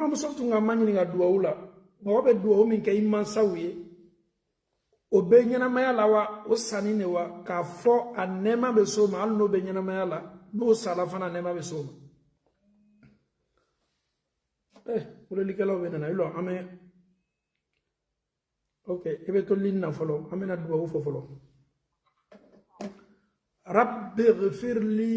muso tun ka maɲininka duwawu la mɔgɔ bɛ duwawu min kɛ i mansaw ye o bɛ ɲɛnamaya la wa o sanin de wa k'a fɔ a nɛɛma bɛ s'o ma hali n'o bɛ ɲɛnamaya la n'o sala fana a nɛɛma bɛ s'o ma eh welelikɛlaw bɛna i lɔ an bɛ ok i bɛ to ligne na fɔlɔ an bɛna duwawu fɔ fɔlɔ rabbi ghfirli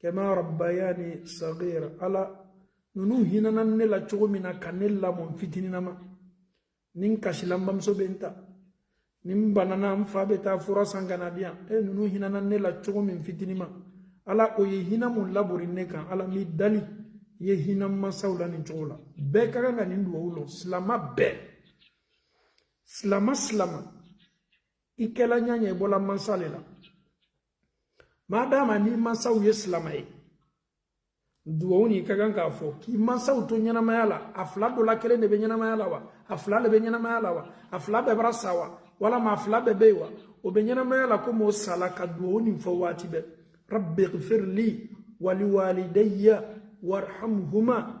kama rabbayani sagira ala ninnu hinana ne la cogo min na ka ne lamɔ n fitininama ni n kasila n bamuso bɛ n ta ni n banana n fa bɛ taa fura san ka n'a di yan e ninnu hinana ne la cogo min fitinima ala o ye hina mun labori ne kan ala n b'i dali i ye hina n mansaw la nin cogo la bɛɛ ka kan ka nin dugawu lɔn silama bɛɛ silama silama i kɛla ɲa ɲa i bɔla mansa le la maa daama n'i mansaw ye silama ye dugawu nin ka kan ka fɔ k'i mansaw to ɲɛnamaya la a fila dɔ la kelen le bɛ ɲɛnamaya la wa a fila le bɛ ɲɛnamaya la wa a fila bɛɛ bara sa wa walama a fila bɛɛ bɛ yen wa o bɛ ɲɛnamaya la komi o sala ka dugawu nin fɔ waati bɛɛ rabbi gfirli waliwalidayya warhamhuma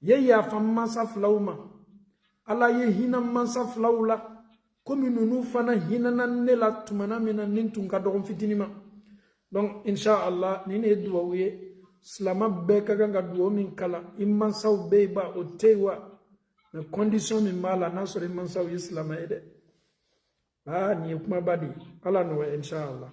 ye yafa n mansa filaw ma ala ye hina n mansa filaw la komi ninnu fana hinana ne la tumana min na ne tun ka dɔgɔ n fitinima donc inshallah nin ye duwawu ye silama bɛɛ ka kan ka duwawu min kalan i mansaw bɛ yen ba o tɛ yen wa nka condition min b'a la n'a sɔrɔ i mansaw ye silama ye dɛ aa nin ye kumaba de ye ala nɔgɔya inshallah